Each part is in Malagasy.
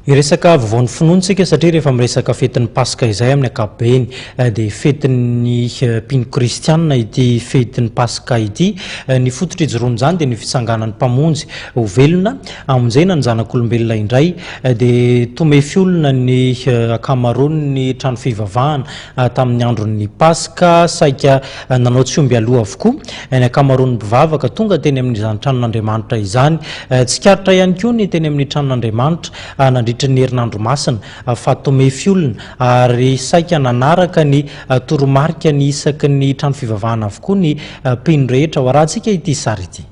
Hiresaka vaovao ny finoana isika satria rehefa miresaka fetin'ny Paska izay amin'ny ankapobeny dia fetin'ny mpino kristiana ity fetin'ny Paska ity. Ny fototra ijoroan'izany dia ny fitsanganan'ny Mpamonjy ho velona, hamonjena ny zanak'olombelona indray. Dia tomefy olona ny ankamaroan'ny trano fivavahana Tamin'ny andron'ny Paska, saika nanao tsy omby aloha avokoa ny ankamaroan'ny mpivavaka tonga teny amin'izany tranon'Andriamanitra izany. Tsikaritra ihany koa ny teny amin'ny tranon'Andriamanitra nandritra ny Herinandro Masina fa tomefy olona, ary saika nanaraka ny toromarika ny isaky ny trano fivavahana avokoa ny mpino rehetra. Hoarahantsika ity sary ity.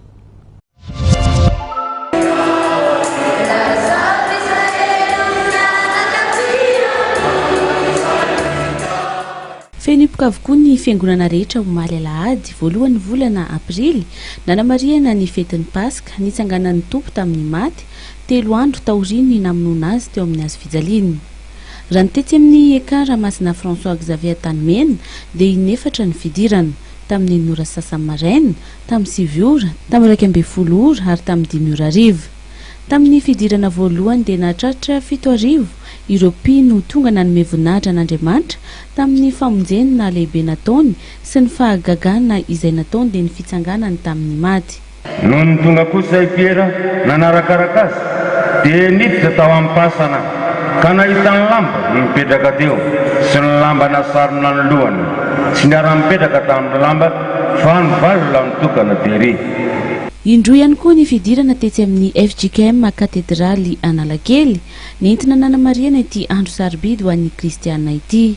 Feno hipoka avokoa ny fiangonana rehetra omaly alahady voalohan'ny volana aprily nanamarihana ny fetin'ny Paska, nitsanganan'ny Tompo tamin'ny maty, telo andro taorian'ny namonoana Azy teo amin'ny hazo fijaliana. Raha ny tetsy amin'ny Ekar Masina François Xavier Antanimena dia inefatra ny fidirana, tamin'ny ora sasany maraina, tamin'ny sivy ora, tamin'ny iraika ambin'ny folo ora ary tamin'ny dimy ora hariva. Tamin'ny fidirana voalohany dia nahatratra fito arivo ireo mpino tonga nanome voninahitra an'Andriamanitra tamin'ny famonjeny nahalehibe nataony sy ny fahagagana izay nataony dia ny fitsanganany tamin'ny maty. Nony tonga kosa i Piera nanarakaraka azy dia niditra tao am-pasana ka nahita ny lamba mipetraka teo sy ny lamba nasarona ny lohany. Tsy niara-nipetraka tamin'ny lamba Vanivalona mitokana dia re. Indroa ihany koa ny fidirana tetsy amin'ny fjkm Katedraly Analakely, nentina nanamarihana ity andro sarobidy ho an'ny kristiana ity.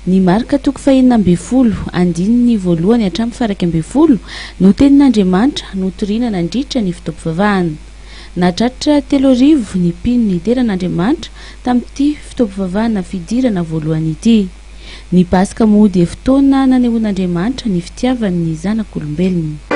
Ny Marka toko fahenina ambin'ny folo, andininy voalohany hatramin'ny faharaika ambin'ny folo no tenin'Andriamanitra notoriana nandritra ny fotoam-pivavahana. Nahatratra telo arivo ny mpino nideran'Andriamanitra tamin'ity fotoam-pivavahana fidirana voalohany ity. Ny Paska moa dia fotoana nanehoan'Andriamanitra ny fitiavany ny zanak'olombelona.